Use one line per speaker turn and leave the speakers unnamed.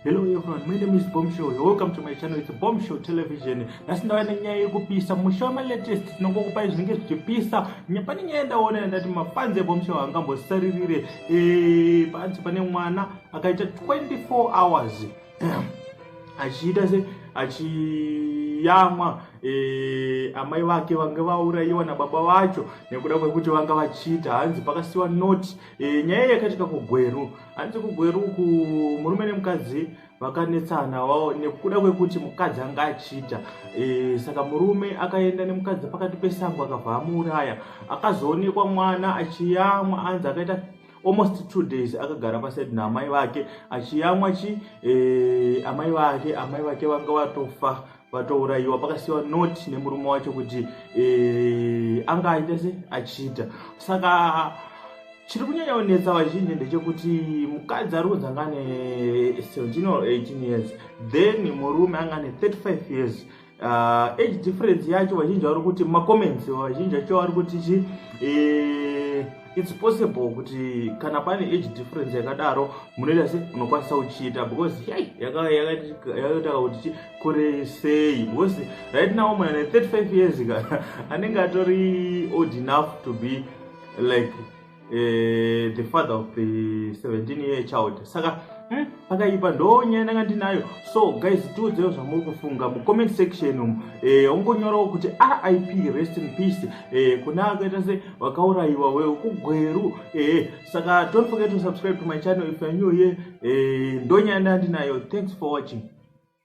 Hello everyone, my name is Bombshell. You're welcome to my channel. It's Bombshell Television. Nasi ndava nenyaya yekupisa musha ma latest tinongokupai zvinenge zvichipisa pane nyaya ndaona ndati mapanzi eBombshell angambosaririre eh panzi pane mwana akaita 24 hours achiita se achiyamwa e, amai vake vange vaurayiwa nababa vacho nekuda kwekuti vanga vachiita hanzi pakasiwa noti e, nyaya yakatika kugweru hanzi kugweru ku murume nemukadzi vakanetsana wao nekuda kwekuti mukadzi anga achiita e, saka murume akaenda nemukadzi pakati pesango akabva amuuraya akazoonekwa mwana achiyamwa anzi akaita almost two days akagara pasaidi naamai vake achiyamwa chi e, amai vake amai vake vanga vatofa vatourayiwa pakasiwa not nemurume wacho kuti e, anga aita se achiita saka chiri kunyanya kunetsa vazhinji ndechekuti mukadzi ari kunzi anga ane 17 or 18 years then murume anga ane 35 years uh, age difference yacho vazhinji vari kuti macomments vazhinji acho vari kuti chi eh, its possible kuti kana pane age difference yakadaro munoita se unokwanisa kuchiita because yai yakaita kuti chi kure sei because right now mwana ne 35 years ka anenge atori old enough to be like uh, the father of the 17 year child saka hmm, pakaipa hmm, ndonyaya ndanga ndinayo so guys tiudzewo zvamuri kufunga mucomment section umu eh, ungonyorawo kuti rip rest in peace eh, kuna akaita se vakaurayiwa we kugweru eh, saka don't forget to subscribe to my channel if you're new here eh, ndonyaya ndanga ndinayo thanks for watching